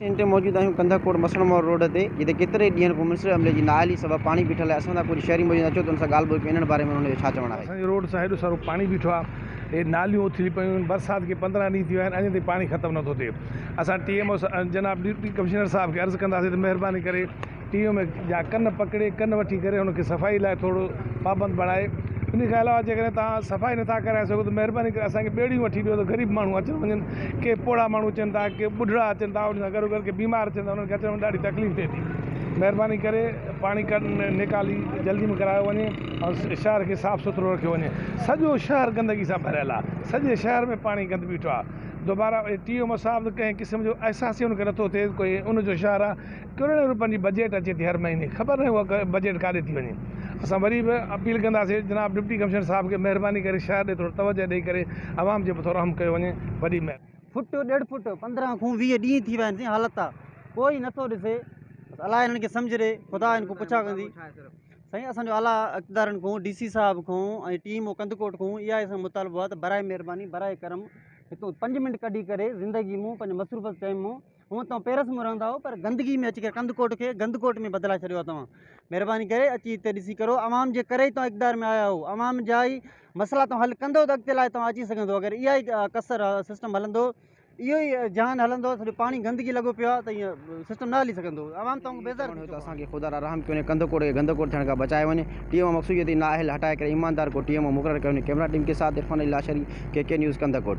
ان تي موجود آهيون ڪنڌ ڪوٽ مسڻ مور روڊ تي جتي ڪيترن ئي ڏينهن کان ميونسپل عملي جي نااهلي سبب پاڻي بيٺل آهي اسان سان ڪجهه شهري موجود آهن اچو ته ان سان ڳالهه ٻولهه ڪيون انهن باري ۾ انهن جو ڇا چوڻ آهي. اسان جي روڊ سان هيڏو سارو پاڻي بيٺو آهي هي ناليون اٿلي پيون آهن برسات کي پندرهن ڏينهن ٿي ويا آهن اڃا تائين پاڻي ختم نٿو ٿئي اسان ٽي ايم او جناب ڊپٽي ڪمشنر صاحب کي عرض ڪنداسين ته مهرباني ڪري ٽيم ۾ جا ڪن پڪڙي ڪن وٺي ڪري هن کي صفائي لاء ٿورو پابند بڻائي انهي کان علاوه جيڪڏهن توهان صفائي نٿا ڪرائي سگهو ته مهرباني ڪري اسان کي ٻيڙيون وٺي ڏيو ته غريب ماڻهو اچن وڃن ڪي پوڙها ماڻهو اچن ٿا ڪي ٻڍڙا اچن ٿا ان سان گڏو گڏ ڪي بيمار اچن ٿا انهن کي اچڻ ۾ ڏاڍي تڪليف ٿئي ٿي مهرباني ڪري پاڻي ڪن نيڪالي جلدي ۾ ڪرايو وڃي ۽ شهر کي صاف سٿرو رکيو وڃي سڄو شهر گندگي سان ڀريل آ سڄي شهر ۾ پاڻي گند بيٺو آ دوبارا ٽي او مصاحب ڪنهن قسم جو احساس ئي ان کي نٿو ٿئي ڪوئي ان جو شهر آ ڪروڙين روپين جي بجيٽ اچي ٿي هر مهيني خبر ناهي اها بجيٽ ڪاڏي ٿي وڃي اسان وري به اپيل ڪنداسين جناب ڊپٽي ڪمشنر صاحب کي مهرباني ڪري شهر ڏي ٿورو توجه ڏئي ڪري عوام جي به ٿورو رحم ڪيو وڃي وڏي مهرباني. فٽ ڏيڍ فٽ پندرهن کون ويهه ڏينهن ٿي ويا آهن سائين حالت آ ڪوئي نٿو ڏسي بس الاء هنن کي سمجهه ڏي خدا هن کون پڇا ڪندي سائين اسان جو اعليٰ اقتدارن کون ڊي سي صاحب کون ۽ ٽي ايم او ڪنڌڪوٽ کون اها اسان جو مطالبو آ ته براء مهرباني براء ڪرم هتون پنج منٽ ڪڍي ڪري زندگي مون پنهنجي مصروف ٽائيم مون هونء توهان پيرس ۾ رهندا آهيو پر گندگي ۾ اچي ڪري ڪنڌڪوٽ کي گندڪوٽ ۾ بدلائي ڇڏيو آهي توهان مهرباني ڪري اچي هتي ڏسي ڪرو عوام جي ڪري ئي توهان اقتدار ۾ آيا آهيو عوام جا ئي مسئلا توهان حل ڪندو ته اڳتي لاء توهان اچي سگهندو اگر اها ئي ڪسر سسٽم هلندو اهو ئي جهان هلندو سڄو پاڻي گندگي لڳو پيو آهي ته ايئن سسٽم نه هلي سگهندو عوام توهان کان بيزار ته اسان کي خدا را رحم ڪيون ۽ ڪنڌ ڪوڙ کي گند ڪوڙ ٿيڻ کان بچائي وڃي، ٽي ايم او مقصود جتي نا اهل هٽائي ڪري ايماندار ڪو ٽي ايم او مقرر ڪيو وڃي، ڪيمرا ٽيم ڪي ساٿ Irfan Ali Lashari, K K news ڪنڌ ڪوٽ.